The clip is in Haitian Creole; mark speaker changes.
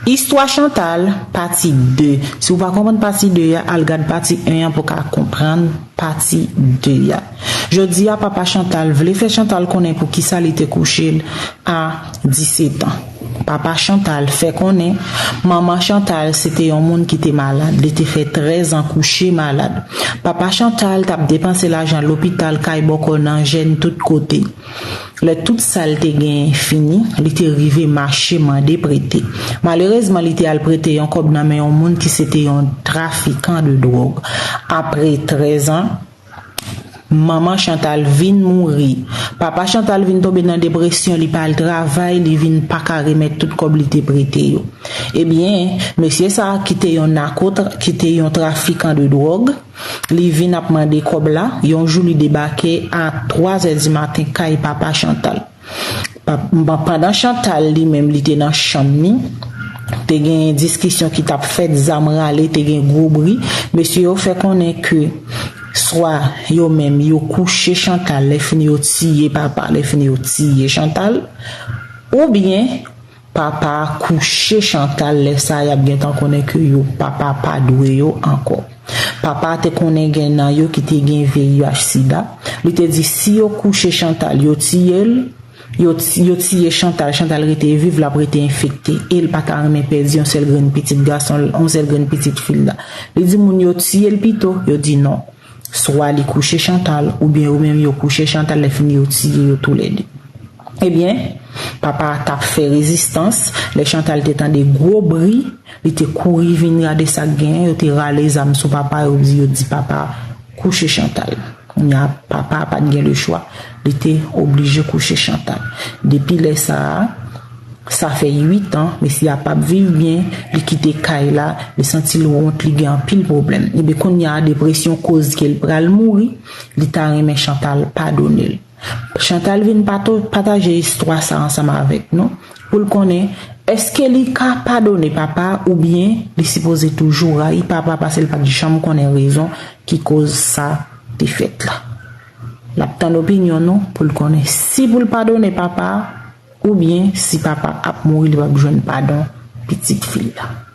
Speaker 1: Istwa Chantal, pati 2 Si ou pa konprann pati 2 a, al gad pati 1 an pou w ka konprann pati 2 a Jodi a papa Chantal vle fè Chantal konnen pou kisa li te kouche l a disetan Papa Chantal fè konnen manman Chantal se te yon moun ki te malad li te fè trèzan kouche malad Papa Chantal t ap depanse lajan lopital kay bòkò nan jèn tout kote. Lè tout sa l te genyen fini, li te rive mache mande prete. Malerezman li te al prete yon kòb nan men yon moun ki se te yon trafikan de dwòg. Apre 13 an, manman Chantal vin mouri. Papa Chantal vin tonbe nan depresyon, li pa al travay, li vin pa ka remèt tout kòb li te prete yo. Ebyen, mesye sa a ki te yon nako, ki te yon trafikan de dwòg, Li vin ap mande kòb la, yon jou li debake a 3 zè di maten kay papa Chantal. Pandan Chantal li menm li te nan chanm ni, te genyen diskisyon ki t ap fèt, zam rale, te gen gwo bri. Mesye yo fè konnen ke swa yo menm yo kouche Chantal lèfini yo tiye papa lèfini yo tiye Chantal oubyen. Papa a kouche Chantal lè sa yap gentan konnen ke yo papa pa dwe yo ankò. Papa a te konnen gen nan yo ki te gen VIH sida, li te di si yo kouche Chantal yo tiye l, yo yo tiye Chantal, Chantal rete viv lap rete enfekte e l pa ta renmen pèdi yon sèl grenn pitit gason l, yon sèl grenn pitit fi l la. Li di moun yo tiye l pito, yo di non. Swa li kouche Chantal oubyen yo menm yo kouche Chantal lè fini yo tiye yo tou lè 2. Ebyen, papa a tap fè rezistans, lè Chantal te tande gwo bri, li te kouri vin gade sak genyen, yo te rale zam sou papa yo di yo di papa kouche Chantal. Kounya papa a pat gen le chwa, li te oblije kouche Chantal. Depi lè sa a. Sa fè 8 an mesye a pap viv byen, li kite kay la, li santi l wont li gen anpil pwoblèm. Ebyen kounya a depresyon koz ke l pral mouri, li ta renmen Chantal padone l. Chantal vin pataje istwa sa ansanm avèk nou pou l konnen eske li ka padone papa oubyen li sipoze toujou rayi papa pase l pat janm konnen rezon ki koz sa te fèt la. Lap tann opinyon nou pou l konnen si pou l padone papa. Ou byen si papa ap mouri li pap jwenn padon pitit fil la.